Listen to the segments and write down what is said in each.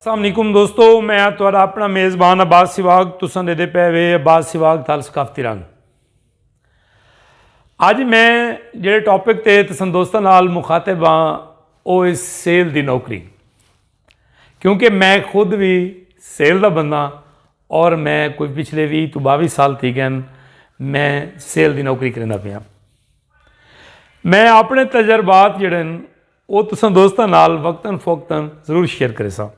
السلام علیکم دوستو میں آ تھوڑا اپنا میزبان عباس سواگ تساں دے دے پے وے عباس سواگ تھال ثقافتی رنگ اج میں جڑے ٹاپک تے تساں دوستاں نال مخاطب ہاں او اس سیل دی نوکری کیونکہ میں خود بھی سیل دا بندہ اور میں کوئی پچھلے بھی تو باوی سال تھی گئے میں سیل دی نوکری کرنا پیا میں اپنے تجربات جڑے او تساں دوستاں نال وقتاً فوقتاً ضرور شیئر کریساں۔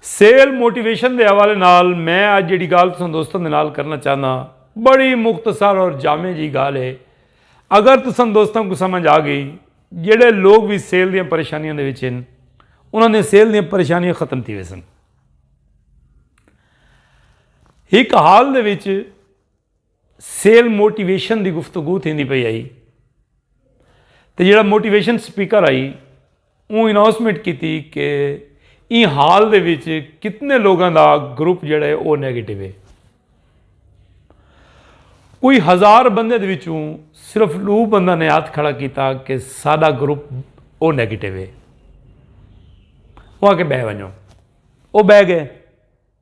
سیل موٹیویشن دے حوالے نال میں اج جیڑھی گالھ تساں دوستاں دے نال کرنا چاہنداں بڑی مختصر اور جامع جیہی گالھ ہے۔ اگر تساں دوستاں کوں سمجھ آ گئی جیڑھے لوگ وی سیل دیاں پریشانیاں دے وچ ہن انہاں دیاں سیل دیاں پریشانیاں ختم تھی ویسن۔ ہک حال دے وچ۔ سیل موٹیویشن دی گفتگو تھیندی پئی ہئی تے جیڑھا موٹیویشن سپیکر ہئی اوں اناؤنسمنٹ کیتی کہ ایں ہال دے وچ کتنے لوگاں دا گروپ جیڑھا ہے او نیگیٹو ہے۔ کوئی ہزار بندے دے وچوں صرف ڈو بندہ نے ہتھ کھڑا کیتا کہ ساڈا گروپ او نیگیٹو ہے۔ اوہاں کے بہ ونجو۔ او بہ گئے۔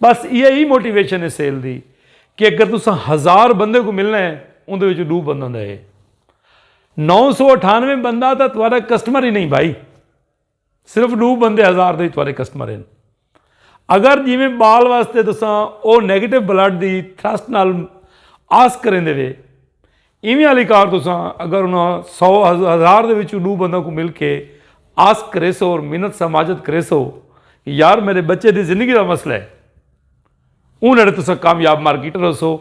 بس ایہ ہی موٹیویشن ہے سیل دی کہ اگر تساں ہزار بندے کو ملنا ہے اندے وچ ڈو بندہ دے نو سو اٹھانوے بندہ تھا تمہارا کسٹمر ہی نہیں بھائی صرف ڈو بندے ہزار دے تمہارے کسٹمر ہیں اگر جی میں بال واسطے تساں او نیگیٹو بلڈ دی تھرسٹ نال آس کریں دے وے ایویں آلی کار تساں اگر انہاں سو ہزار دے وچوں ڈو بنداں کوں مل کے آس کریسو اور منت سماجت کریسو کہ یار میڈے بچے دی زندگی دا مسئلہ ہے اوں نڑے تساں کامیاب مارکیٹر ہوسو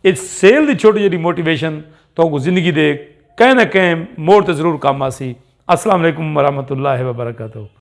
اچ سیل دی چھوٹی جیڈی موٹیویشن تہاں کوں زندگی دے کہیں نہ کہیں موڑ تے ضرور کم آسی السلام علیکم ورحمۃ اللہ وبرکاتہ۔